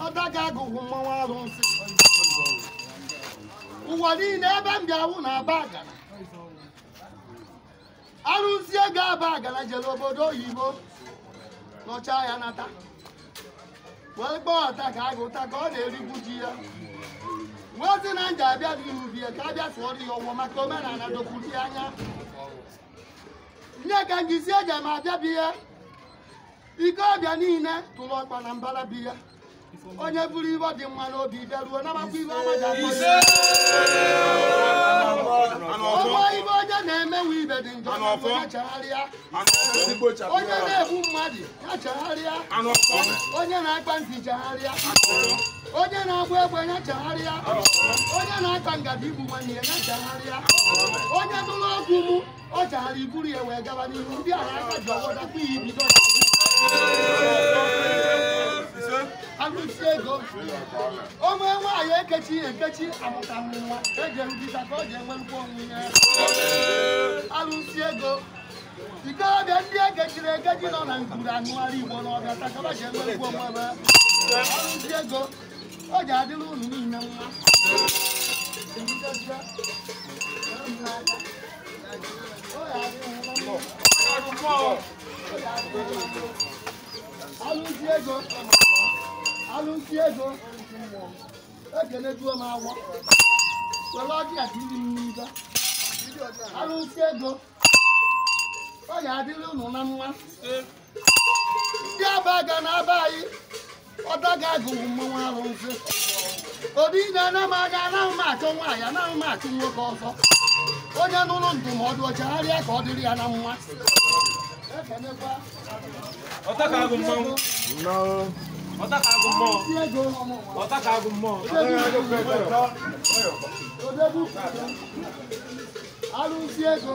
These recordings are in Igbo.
ọtaka agụ mmanwụ arụsị ụwa niile ebe m bi a wụ na aba agara arụsị ego aba agara jere obodo oyibo nọcha ya nata wee kpọọ ọtaka agụ ụta ka ọ na-erigbu ji ya wee sị na nja abịa n'ihu bie ka abịa sụọrọ ya ọfọ maka omenala dokwuru ya anya ihe ka m ji si eji m abịa bi ya ike ọbịa niile tụrụ ọkpa na mbara obi ya onye buru ihe dị mma n'obi bịaruo nabakwa ihe ọma ji akpọ ya ọnwa ibe onye na-emewe ihe dị njọ n'obi ya chegharịa onye na-egbu mmadụ ya chegharịa onye na-akpa nsị chegharịa onye na-agba egbe ya chegharịa onye na-akpa nkata igbu nwanne ya ya chegharịa onye nụrụ okwu mụ ọ chara iburu ya wee gaba n'ihu ndị agha aka ji ọgbọ dakwa ya ibido arụsị ego onwe nwaanyị ekechi ya ekechi amụta nwa eji erubita ka ọ ji enwerukwa onwe ya arụsị ego ikorobịa ndị ekechiri ekechi nọ na ngwuru anụgharị igbo n'ọbịa taa ka ba ji enwerukwa onwe ha arụsị ego ọ ji adịrị unu niile mma arụsị ego arụsị ego ekenejuo m afọ were ọjị a tiri m n'ibe arụsị ego ọ ga-adịrị unu na mma ndị aba ga na aba anyị ọtaka agụ mmanwụ arụsị obi na ana m anya anaghị m achọ nwaanyị anaghị m achụ nwoke ọzọ onye nụrụ ndụmọdụ ọ chagharịa ka ọ dịrị ya na mma ekenekwa Ọtaka agụ mmanwụ. Ọtaka agụ mmụọ. ndị ego Ọtaka agụ mmụọ. odegbu arụsị ego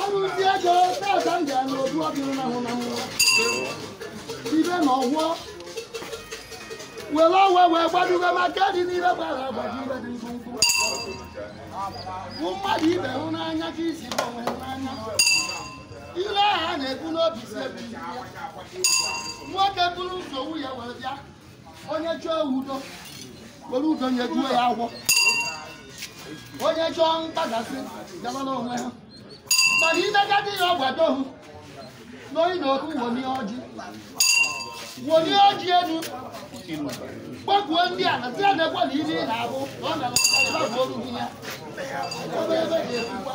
arụsị ego tata m gara n'odu ọdịrị na hụ na mmụọ ibe na ọfọ were ọwa wee gbadugo maka dị n'ibe gbara agbaji ibe dị mkpụmkpụ bụ mmadụ ibe hụ n'anya ka isi bụ onwe hụ n'anya ile ahụ a na-ekwu n'obi si ebi nwoke bụrụ nsogbu ya were bịa onye chọọ udo were udo nyejuo ya afọ onye chọọ mkpagasị gabara onwe ha mana imegadi ya ọgbado hụ n'oyi na oku wolie ọjị wolie ọjị elu kpọkuo ndị a na si emekwa na ihe ị na-abụ na ọ na-abụ oru ya ebe ebe ga-ekwukwa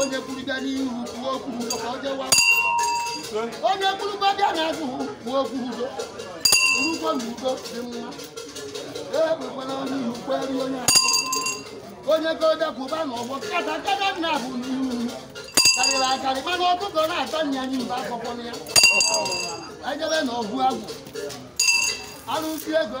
onye kwuru bịa n'ihu kwuo okwu udo ka ọ jewa onye kwuru bịa n'azụ kwuo okwu udo urugbo na udo dị mma ekwekwala onye ihu kweri onye ahụ onye goda kwụba n'ọgbọ kata kata nna bụ n'ihu karịrị akarị mana ọkụkọ na-ata nya anyị mba akwụkwọ ya ejebe na ọgụ agwụ arụsi ego